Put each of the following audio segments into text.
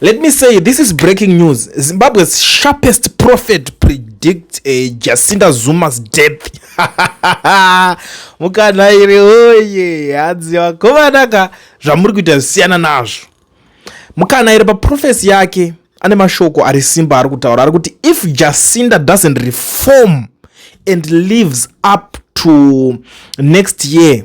Let me say this is breaking news. Zimbabwe's sharpest prophet predicts a Jacinta Zuma's death. Mukanhairi oye hanzi vakomanaka zvamuri kuita zvisiyana nazvo. Mukanhairi paprofesi yake ane mashoko ari simba ari kutaura ari kuti if Jacinta doesn't reform and lives up to next year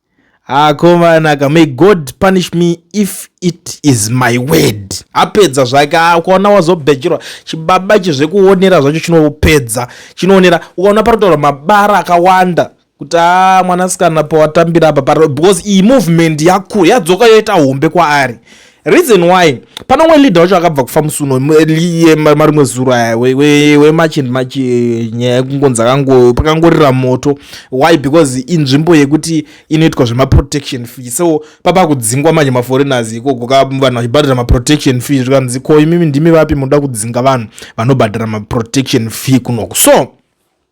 akomanaka may god punish me if it is my word apedza zvake ukaona wazobhecherwa chibaba ichi zvekuonera zvacho chinopedza chinoonera ukaona panotaura mabara akawanda kuti a ah, mwanasikana pawatambira apa because iyi movement yakura yadzoka yoita hombe kwaari reason why pane umwe leader wacho akabva kufa musi uno marimwe zuro aya wemachi and machi nyaya yekungonzi akango pakangorira moto why because inzvimbo yekuti inoitwa zvemaprotection fee so papa kudzingwa manje maforeigners ikoko ka vanhu vachibhadhara maprotection fee zvikanzi ko imimi ndimi vapi munoda kudzinga vanhu vanobhadhara maprotection fee kunoku so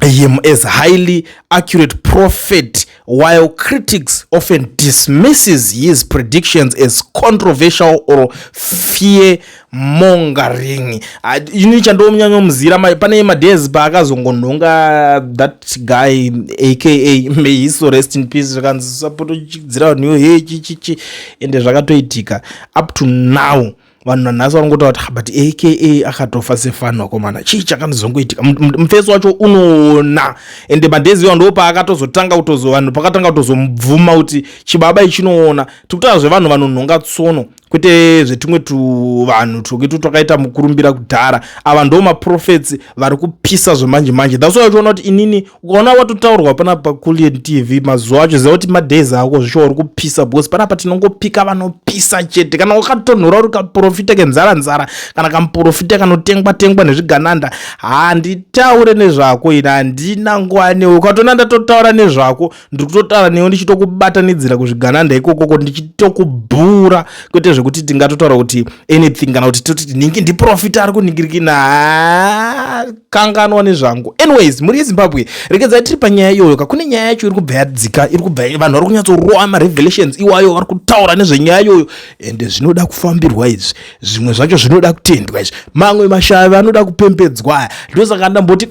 him as highly accurate prophet while critics often dismisses his predictions as controversial or fear mongering ah, ini chandomunyanya muzira pane madays paakazongonhonga that guy aka may his soul rest in peace zvakanzi sapotochidzira vanhu yo he chichichi ende zvakatoitika up to now vanhu nanhasi vari ngotaura kuti but aka akatofa sefani wakomana chii chakanozongoitika mufesi wacho unoona ende madhezi iwa ndo paakatozotanga kutozo vanhu pakatanga kutozomubvuma kuti chibaba ichinoona tikutaura zvevanhu vanonhonga tsono kwete zvetumwe tuvanhu twokito twakaita mukurumbira kudhara ava ndo maprofets vari kupisa zvemanje manje that's why uchiona kuti inini ukaona watotaurwa panapa pakulian tv mazuva acho ziva kuti madays ako zvishuwa uri kupisa because panapa tinongopika vanopisa chete kana ukatonhora uri kaprofita kenzara nzara kana kamuprofita kanotengwa tengwa nezvigananda handitaure nezvako ini handina nguva newe ukatoona ndatotaura nezvako ndiri kutotaura newe ndichitokubatanidzira kuzvigananda ikokoko ndichitokubhura kwete zvekuti tingatotaura kuti anything kana kuti toti tinenge ndiprofita ari kuningirikina ah, kanganwa nezvangu anyways mhuri yezimbabwe rekedza tiri panyaya iyoyo ka kune nyaya yacho iri kubva yadzika iri kubva vanhu vari kunyatsorova marevelations iwayo vari kutaura nezvenyaya iyoyo ende zvinoda kufambirwa izvi zvimwe zvacho zvinoda kutendwa izvi mamwe mashavi anoda kupembedzwa ndosaka ndamboti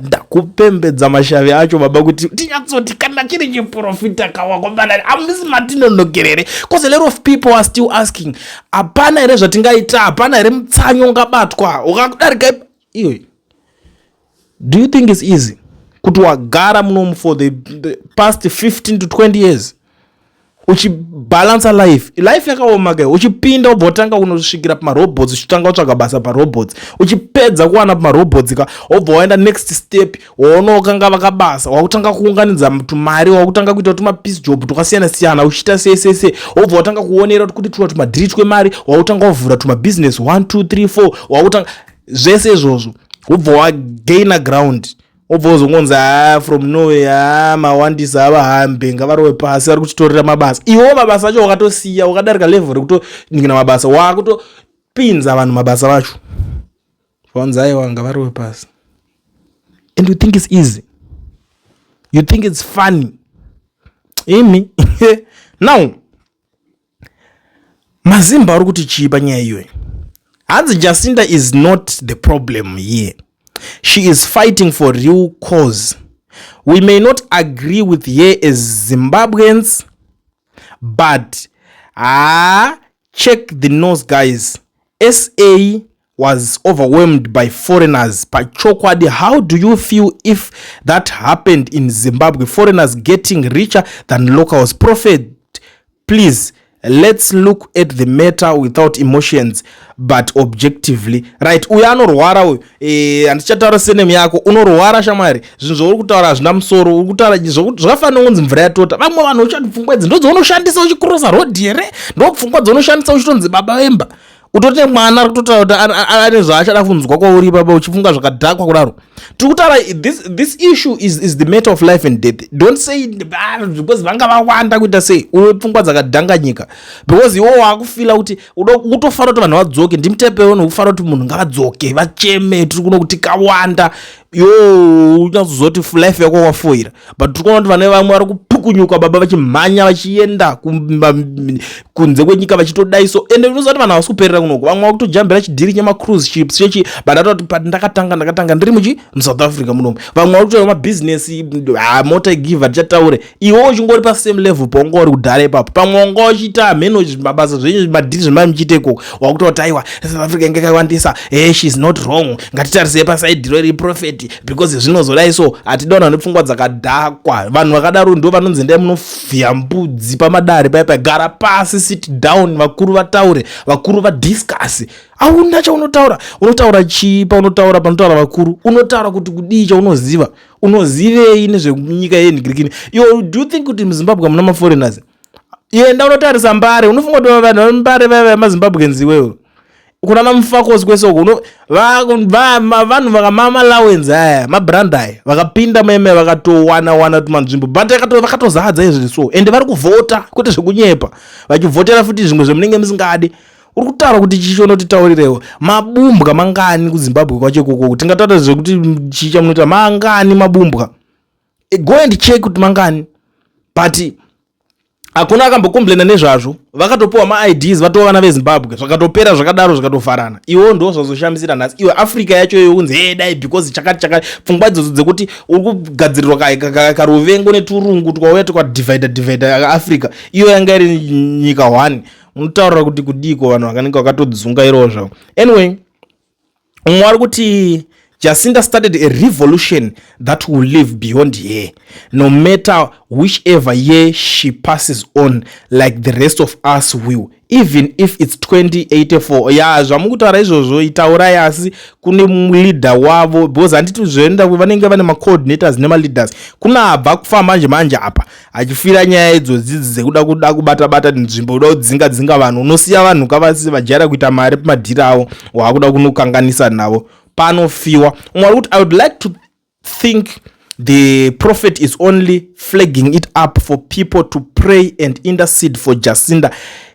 ndakupembedza mashavi acho baba kuti tinyatsoti kana chiri chiprofita kawakobanani amisi matinonokerere bcause a lot of people are still asking hapana here zvatingaita hapana here mutsanyo ungabatwa ukakudarika iyoyi do you think is easy kuti wagara munomu for the, the past 15 to 20 years uchibalansa life life yakaoma kai uchipinda ubva utanga kunosvikira pamarobots uchitanga kutsvaga basa parobots uchipedza kuwana pamarobots ka obva waenda next step waonokanga vakabasa wakutanga kuunganidza tumari wakutanga kuita tumapiece job twakasiyana siyana uchiita sesese obva watanga kuonera kuti tuna tumadhiri twemari wakutanga wavhura tumabusiness 1 2 3 4 wakutanga zvese izvozvo ubva wagaina ground obva ozongonzi haa from norway haa mawandisa avahambe ngavarowe pasi vari kuchitorera mabasa iwewo mabasa acho wakatosiya wakadarika level rekutonikina mabasa wakutopinza vanhu mabasa vacho vanzi aiwa ngavarowe pasi and you think its easy you think its funny imi now Mazimba ari kuti chii panyaya iyoyi? Hanzi Jacinta is not the problem here. She is fighting for real cause. We may not agree with her as Zimbabweans, but ah, check the nose guys. SA was overwhelmed by foreigners pachokwadi how do you feel if that happened in zimbabwe foreigners getting richer than locals prophet please let's look at the matter without emotions but objectively right uyo anorwara uyo eh, handichataura e, senemu yako unorwara shamwari zvinhu zvauri kutaura hazvina musoro uri kutaura zvakafanira kunzi mvura yatota vamwe vanhu uchati pfungwa idzi ndodzonoshandisa uchikrosa rodhi here ndopfungwa dzonoshandisa uchitonzi baba vemba utori nemwana ari kutotaura kuti ane zvaachada kunzwa kwauri ipapa uchifunga zvakadhakwa kudaro tiri kutaura this, this issue is, is the matter of life and death don't say ah, because vanga vawanda kuita sei uyo pfungwa dzakadhanganyika because iwo waakufila kuti utofanira kuti vanhu vadzoke ndimtepewo nokufara kuti munhu ngavadzoke vacheme tiri kuno kuti kawanda yoo unyazozoti life yako wafoira but tiri kuona kuti vane vamwe vari kupukunyuka baba vachimhanya vachienda kunze kwenyika vachitodai so ende unoziva kuti vanhu havasi kuperera kunoko vamwe vakutojambira chidhiri chemacruise ships chechi but atoti pat ndakatanga ndakatanga ndiri muchi musouth africa munomu vamwe vari kutoita mabhizinesi ah, mota igiva tichataure iwe uchingori pasame level paunga uri kudhara ipapo pamwe wanga uchiita hameno mabasa zvenyu madhiri zvemai muchiita ikoko wakutoti aiwa south africa inge kaiwandisa hey eh, sheis not wrong ngatitarisei pasaidhiro iri profeti because zvinozodai so hatida vanhu vane pfungwa dzakadhakwa vanhu vakadaro ndo vanonzi ndai munovhiya mbudzi pamadare paya pagara pasi sit down vakuru vataure vakuru vadiscase auna chaunotaura unotaura chii paunotaura panotaura vakuru unotaura kuti kudii chaunoziva unozivei nezvenyika yenhigirikini iwo do you think kuti muzimbabwe hamuna maforeigners yenda unotarisa mbare unofunga kuti vanhu vambare vaya vemazimbabweans iwewo kunana mufakosi kwese uko vanhu vakamamalawenz aya mabrand aya vakapinda meme vakatowana wana tumanzvimbo but vakatozadza izvi so ende vari kuvhota kwete zvekunyepa vachivhotera futi zvimwe zvemunenge musingadi uri kutaura kuti chichi unotitaurirewo mabumbwa mangani kuzimbabwe kwacho ikoko tingataura zvekuti chicha munoita mangani mabumbwa eh, go and check kuti mangani but hakuna akambokomplaina nezvazvo vakatopiwa maids vatova vana vezimbabwe zvakatopera zvakadaro zvikatofarana iwo ndo zvazoshamisira nhasi iwe africa yacho iyo kunzi hee dai because chakati chakati pfungwa idzodzo dzekuti uri kugadzirirwa karuvengo neturungu twauya twakadivhaida divhaida africa iyo yanga iri nyika one unotaura kuti kudiko vanhu vakanenge vakatodzunga irozvo anyway umwe ari kuti jacinta started a revolution that will live beyond here no matter whichever year she passes on like the rest of us will even if its 2084 ya zvamukutaura izvozvo itaurai asi kune leader wavo because handiti zvoenda vanenge vane macoordinators nemaleaders kune abva kufamba manje manje apa achifira nyaya idzodzi dzekuda kuda kubata bata nzvimbo uda kudzinga dzinga vanhu unosiya vanhu kavasi vajaira kuita mari pamadhiri avo waakuda kunokanganisa navo panofiwa umwe ari kuti i would like to think the prophet is only flagging it up for people to pray and intercede for jacinda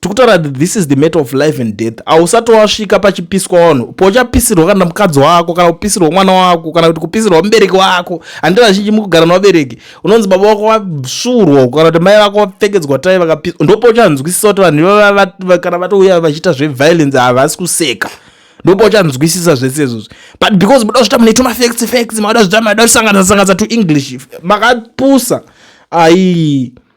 tikutaura that this is the matter of life and death hausati wasvika pachipiswa wanhu pochapisirwa kana mukadzi wako kana kupisirwa mwana wako kana kuti kupisirwa mubereki wako handi vazhinji mukugara nevabereki unonzi baba wako vasvurwa kana kuti mai vako vapfekedzwa tai vakapiswa ndopochanzwisisa kuti vanhu ivava kana vatouya vachiita zveviolence havasi kuseka ndopa uchanzwisisa zvese izvozvi but because muda kuzvita muneto mafacts facts mada zvita mada kusanganisa sanganisa to english makapusa aii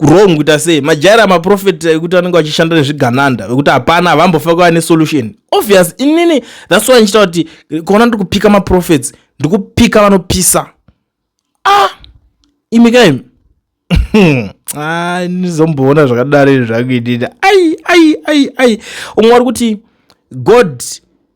wrong kuita sei majaira maprofeti ekuti anenge achishanda nezvigananda vekuti hapana havambofa kuva nesolution obvious inini thats why ndichita kuti kuona ndiri kupika maprofets ndiri kupika vanopisa ah imi kaimi ndizomboona zvakadaro izvi zvakuitita ai ai ai ai umwe ari kuti god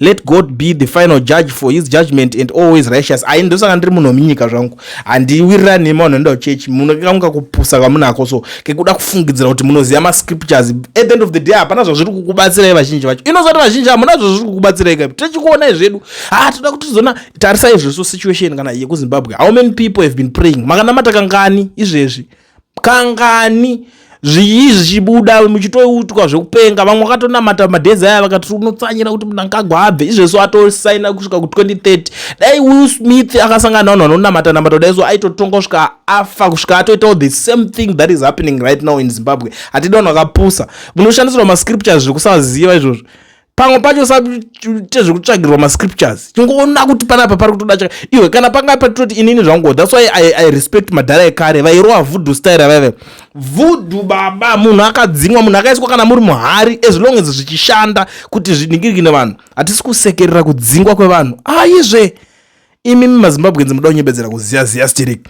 let god be the final judge for his judgment and always righteous ai ndosaka ndiri munhu wemunyika zvangu handiwirirani nema vanhu anoenda kuchechi munokanguka kupusa kwamunako so kekuda kufungidzira kuti munoziva mascriptures at the end of the day hapana zvazviri kukubatsirai vazhinji vacho inozati vazhinji hamuna zvazviri kukubatsirai kaipi tichikuonai zvedu ha toda kuti tizoona tarisai zveso situation kana yekuzimbabwe how many people have been praying makanamata kangani izvezvi kangani zviyi zvichibuda muchitoutwa zvekupenga vamwe vakatonamata madhezi aya vakati unotsanyira kuti mnangagwa abve izvezvo atosaina kusvika ku2030 dai will smith akasangana navanhu vanonamata namata dai so aitotonga kusvika afa kusvika atoitawo the same thing that is happening right now in zimbabwe hatidi vanhu vakapusa munoshandisirwa mascriptures zvekusaziva izvozvo pamwe pacho usaite zvekutsvagirwa mascriptures chingoona kuti panapa pari kutoda chaka iwe kana panga patitoti inini zvangu thats why I, i respect madhara ekare vairowa vudhu style vaive vudhu baba munhu akadzimwa munhu akaiswa kana muri muhari as long as zvichishanda kuti zviningirikine vanhu hatisi kusekerera kudzingwa kwevanhu aizve ah, imi mazimbabwenzi muda kunyebedzera kuziya ziya stirik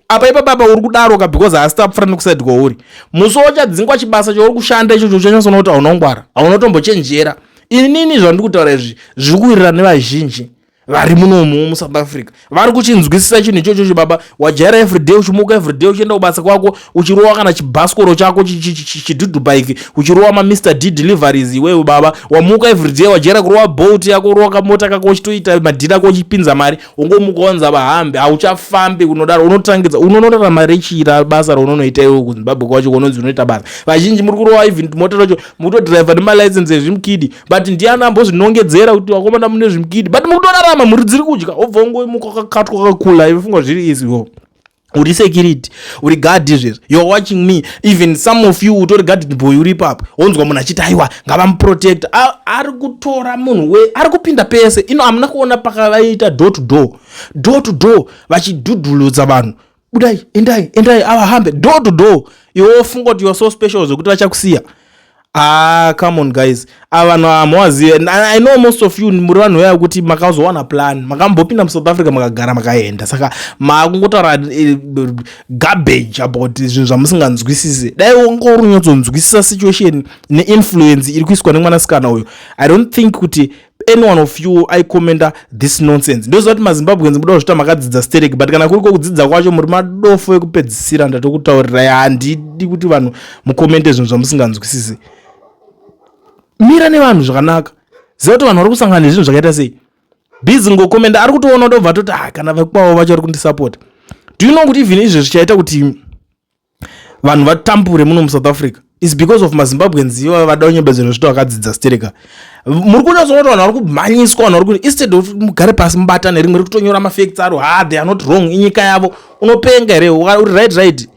apa ipa baba uri kudaroka because haasi tapfura nekusaidi kwauri musi wachadzingwa chibasa chauri kushanda ichocho uchanyasoona kuti hauna kungwara hauna tombochenjera inini zvandiri kutaura izvi zviri kuwirirana nevazhinji vari munomu musouth africa vari kuchinzwisisa chinhu ichochocho baba wajaira everyday uchimuka everyday uchienda kubasa kwako uchirowa kana chibhasikoro chako chidhudhu bike uchirowa mamr d deliveries iwewe baba wamuka everyday wajaira kurowa bolt yako urowa kamota kako uchitoita madhiri ako uchipinza mari ungomuka wanza vahambe hauchafambi kunodaro unotangidza unonorarama rechira basa raunonoita iwe kuzimbabwe kwacho kunonzi unoita basa vazhinji muri kurowa even mota racho mutodriver nemalicense ezvimukidi but ndiani ambozvinongedzera kuti vakomana mune zvimkidi but mukutorarama mhuri dziri kudya obva ungoimuka kakatwa kakakula ivefunga zviri izi wo uri security uri guard izvezvo youare watching me even some of you utori guarded boy uri ipapo wonzwa munhu achiti aiwa ngavamuprotecta ari kutora munhu we ari kupinda pese ino hamuna kuona pakavaita door to door door to door vachidhudhuludza vanhu budai endai endai avahambe do to do iwe wofunga kuti youare so special zvekuti vachakusiya ah come on guys ava vanhu hamuwazive i know most of you muri vanhu vaya kuti makazowana plan makambopinda musouth africa makagara makaenda saka makungotaura eh, garbage about zvinhu zvamusinganzwisise dai wonga uri unyatsonzwisisa situation neinfluence iri kuiswa nemwanasikana uyo i don't think kuti any one of you i commenda this nonsense ndoziva kuti mazimbabweans muda kuzvita makadzidza sterek but kana kuri kokudzidza kwacho muri madofo ekupedzisira ndatokutaurirai handidi kuti vanhu mukomente zvinhu zvamusinganzwisisi mira nevanhu zvakanaka ziva kuti vanhu vari kusangana nezvinhu zvakaita sei bizi ngokomenda ari kutoona ndobva toti ah kana vekukwavo vacho vari kundisapota do you know kuti even izvezvi chaita kuti vanhu vatambure muno musouth africa is because of mazimbabweans iva vada kunyebedzera zvito vakadzidza stereka muri kunyatsona kuti vanhu vari kumhanyiswa vanhu vari kuti instead of mugare pasi mubatane rimwe riri kutonyora mafacts aro ha ah, they are not wrong inyika yavo unopenga here uri right right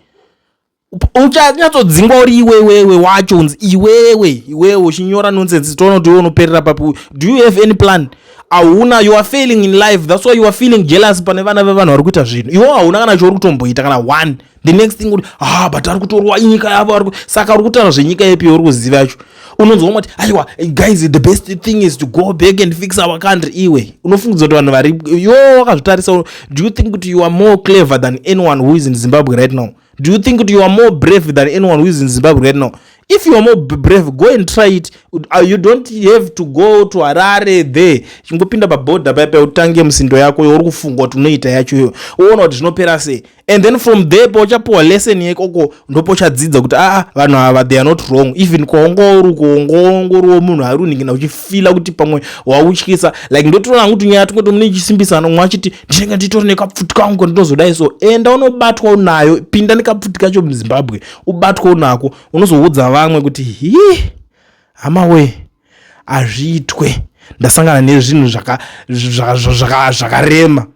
uchanyatsodzingwa uri iwewewe wacho unzi iwewe iwewe uchinyora nonsense toona kuti iwe unoperera papi do you have any plan hauna you are failing in life thats why you are feeling jealous pane vana vevanhu vari kuita zvinhu iwo hauna kana chouri kutomboita kana one the next thing kuti ah but ari kutorwa inyika yavo ari saka uri kutaura zvenyika yepi yauri kuziva yacho unonzwa umati aiwa guys the best thing is to go back and fix our country iwe unofungidza kuti vanhu vari yo wakazvitarisa do you think kuti you are more clever than anyone who is in zimbabwe right now do you think kuti you are more brave than anyone who is in zimbabwe right now if you are more brave go and try it uh, you don't have to go to harare there chingopinda paboda paya paya utange musindo yako youri kufunga kuti unoita yacho iyoyo woona kuti zvinopera sei and then from there pauchapiwa lesson yekoko ndopouchadzidza kuti aa ah, ah, vanhu ava they are not wrong even kwaungauri kuongoongoriwo munhu ari uningina uchifila kuti pamwe wautyisa like ndotoona hangu tunyaya tunge tomune ichisimbisa nomwe achiti ndinenge nditori nekapfuti kangu kandinozodai so enda unobatwa unayo pinda nekapfuti kacho muzimbabwe ubatwa unako unozoudza vamwe kuti hi hama wee hazviitwe ndasangana nezvinhu zvakarema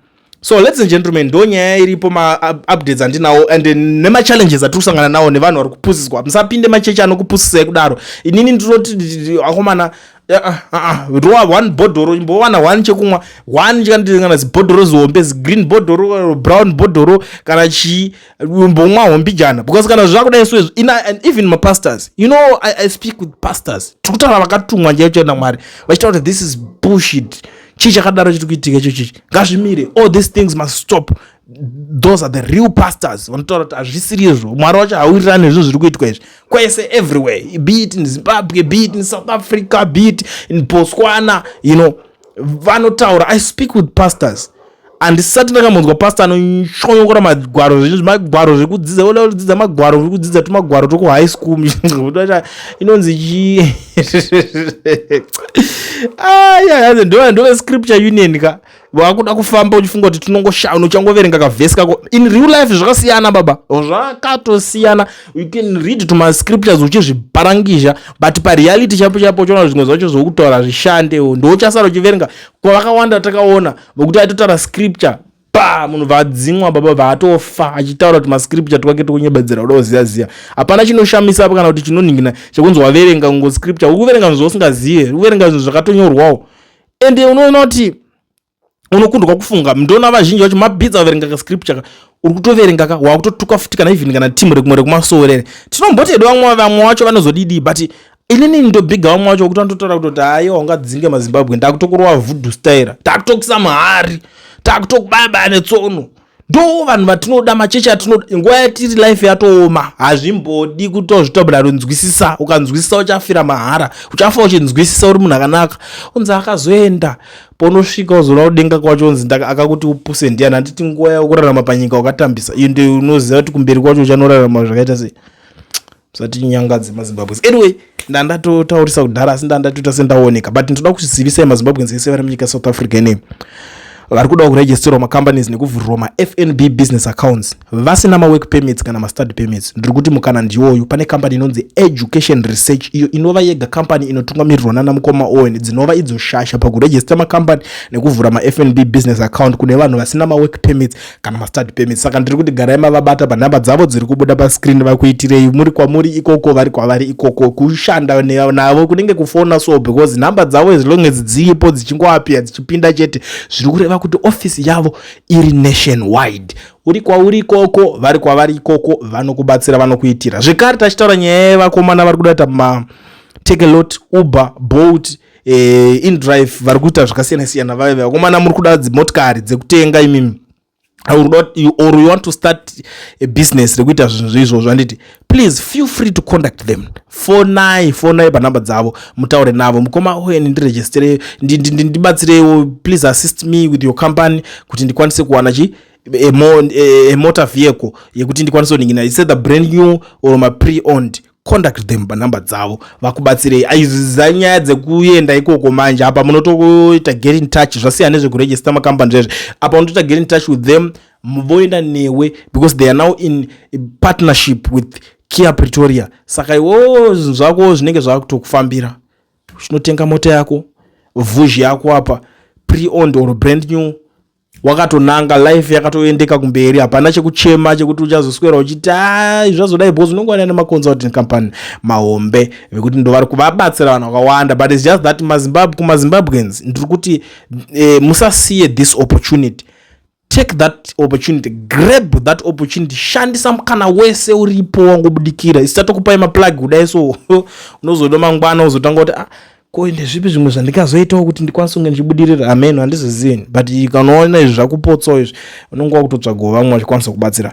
so ladies and gentlemen ndo nyaya iripo maupdates andinawo and nemachallenges atiri kusangana nawo nevanhu vari kupusiswa musapinde machechi anokupusisai kudaro inini ndinoti akomana ah, ah, ah, rowa one bhodhoro imbowana one chekumwa one kana zibhodhoro zihombe zigreen bhodhoro brown bhodhoro kana chii umbomwawo mbijana because kana zvakuda isu izvi and even mapastors you know I, i speak with pastors tiri kutaura vakatumwa njai choenda mwari vachitaura kuti this is bullshit chii chakadaro chiri kuitika icho chichi ngazvimire all these things must stop those are the real pastors vanotaura kuti hazvisiri izvo mwari wacho hauwirirani nezvinhu zviri kuitwa izvi kwese everywhere be it in zimbabwe be it in south africa be it in botswana you know vanotaura i speak with pastors handisati ndakambonzwa pasta anoshonyokora magwaro zvinhu zvemagwaro zvekudzidza oda kudzidza magwaro uri kudzidza tumagwaro twekuhigh school inonzi chii aya ah, ndova ndove scripture union ka wakuda kufamba uchifunga kuti tinongoshauna uchangoverenga kavhesi kako in real life zvakasiyana baba zvakatosiyana you can read to my scriptures uchizviparangizha but pareality chapo chapo uchaona zvimwe zvacho zvokutaura zvishande ndouchasara uchiverenga kwavakawanda takaona vokuti aitotaura scripture pa munhu vadzimwa baba vaatofa achitaura kuti mascripture twake tokunyebedzera uda kuziva ziva hapana chinoshamisa apo kana kuti chinonhingina chekunzi waverenga kungo scripture ukuverenga zvinhu zvausingazive ukuverenga zvinhu zvakatonyorwawo ende unoona kuti unokundwa kufunga ndona vazhinji vacho mabhidza vaverenga ka scripture ka uri kutoverenga ka wakutotuka futi kana even kana team rekumwe rekumasowerere tinomboti edu vamwe vamwe vacho vanozodidii but inini ndobhiga vamwe vacho kuti vanototaura kutoti haiwa ungadzinge mazimbabwe ndakutokurova vudhu staira takutokisa mahari takutokubaya baya netsono ndo vanhu vatinoda machechi atinoda nguva yatiri life yatooma hazvimbodi kuti ozvitabura rinzwisisa ukanzwisisa uchafira mahara uchafa uchinzwisisa uri munhu akanaka unzi akazoenda paunosvika uzoona kudenga kwacho unzi akakuti upuse ndiyani handiti nguva yakurarama panyika wakatambisa iyo ndio unoziva kuti kumberi kwacho uchanorarama zvakaita sei zvatinyangadze mazimbabwe anyway ndandatotaurisa kudhara asi ndandatoita sendaoneka but ndoda kuzvizivisai mazimbabwe ese vari munyika south africa ine vari kudawo kuregisterwa macompanies nekuvhurirwa mafnb business accounts vasina mawork permits kana mastudy permits ndiri kuti mukana ndiwoyu pane kambani inonzi education research iyo inova yega kambani inotungamirirwa nana mukoma owen dzinova idzo shasha pakuregista makambani nekuvhura mafnb business account kune vanhu vasina mawork permits kana mastudy permit saka ndiri kuti garai mavabata panhamba dzavo dziri kubuda pascreen vakuitirei muri kwamuri ikoko vari kwavari ikoko kushanda navo kunenge kufona so because nhamba dzavo as long as dziripo dzichingoapia dzichipinda chete zviri kureva kuti office yavo iri nation wide uri kwauri ikoko vari kwavari ikoko vanokubatsira vanokuitira zvekare tachitaura nyaya yevakomana vari kuda kuita ma take a lot uber bolt eh, indrive vari kuita zvakasiyana siyana vave vakomana muri kuda dzimotikari dzekutenga imimi or you want to start a business rekuita zvinhu zveizvo zvanditi please feel free to contact them fonai fonai panhamba dzavo mutaure navo mukoma oen ndiregistere ndibatsireiwo please assist me with your company kuti ndikwanise kuwana chi a, mo, a, a motor vehicle yekuti ndikwanise kuningina is either brand new or ma pre owned contact them panumber dzavo vakubatsirei aiziza nyaya dzekuenda ikoko manje apa munotoita get in touch zvasiya nezvekuregister macompany zvezve apa unotoita get in touch with them voenda newe because they are now in partnership with kia pretoria saka iwo zvinhu zvako zvinenge zvakutokufambira chinotenga mota yako vuzhi yako apa preond or brand new wakatonanga life yakatoendeka kumberi hapana chekuchema chekuti uchazoswera uchiti ai zvazodai bcause unenge wanaine maconsulting company mahombe vekuti ndovari kuvabatsira vanhu vakawanda but its just that mazimbabwe kumazimbabweans ndiri kuti eh, musasiye this opportunity take that opportunity grab that opportunity shandisa mukana wese uripo wangobudikira isitatokupai maplug kudai so unozoda mangwana uzotanga kuti ah, ko ndezvipi zvimwe zvandingazoitawo kuti ndikwanise kunge ndichibudirira ameno handizozivini but ikanoona izvi zvakupotsawo izvi unonga wakutotsvagawo vamwe vachikwanisa kubatsira